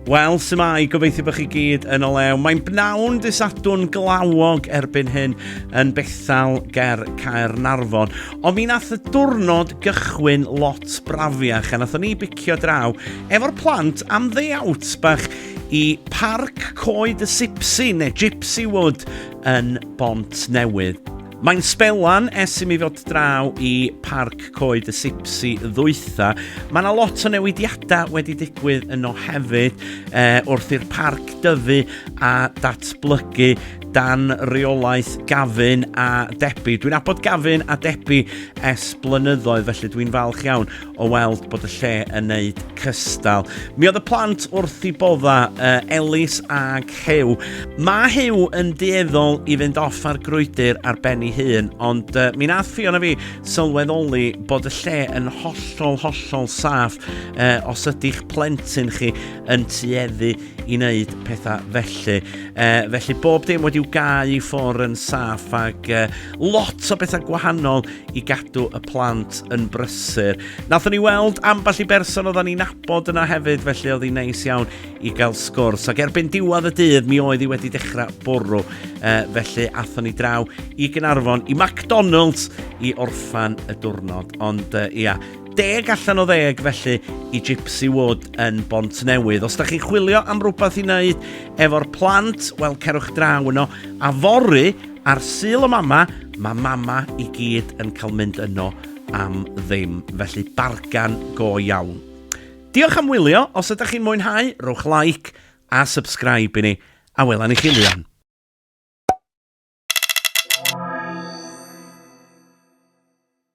Wel, sy'n mai, gobeithio bod chi gyd yn o lew. Mae'n bnawn disadwn glawog erbyn hyn yn Bethel ger Caernarfon. Ond mi nath y diwrnod gychwyn lot brafiach a nathon ni bicio draw efo'r plant am ddeiawt bach i Parc Coed y Sipsi neu Gypsy Wood yn Bont Newydd. Mae'n sbelan es i mi fod draw i Parc Coed y Sipsi ddwytha. Mae yna lot o newidiadau wedi digwydd yno hefyd e, wrth i'r parc dyfu a datblygu dan reolaeth Gavin a Debbie. Dwi'n abod Gavin a Debbie es blynyddoedd felly dwi'n falch iawn o weld bod y lle yn neud cystal. Mi oedd y plant wrth i bodda, uh, Elis ag Hew. Mae Hew yn dueddol i fynd off ar grwydr ar ben ei hun, ond uh, mi nath Fion a fi sylweddoli bod y lle yn hollol, hollol saff uh, os ydy'ch plentyn chi yn tueddu i wneud pethau felly. Uh, felly bob dim wedi'w gau i ffwr yn saff ac uh, lot o bethau gwahanol i gadw y plant yn brysur. Nathon ni weld ambell i berson oedden ni'n nabod yna hefyd, felly oedd hi'n neis iawn i gael sgwrs. Ac erbyn diwedd y dydd, mi oedd hi wedi dechrau bwrw. E, felly athon ni draw i Gynarfon, i McDonald's, i orffan y diwrnod. Ond e, ia, deg allan o ddeg felly i Gypsy Wood yn Bont Newydd. Os da chi'n chwilio am rhywbeth i wneud efo'r plant, wel cerwch draw yno. A fory, Ar Sul y Mama, mae mama i gyd yn cael mynd yno am ddim, felly bargan go iawn. Diolch am wylio, os ydych chi'n mwynhau, rhowch like a subscribe i ni, a wela ni chi lion.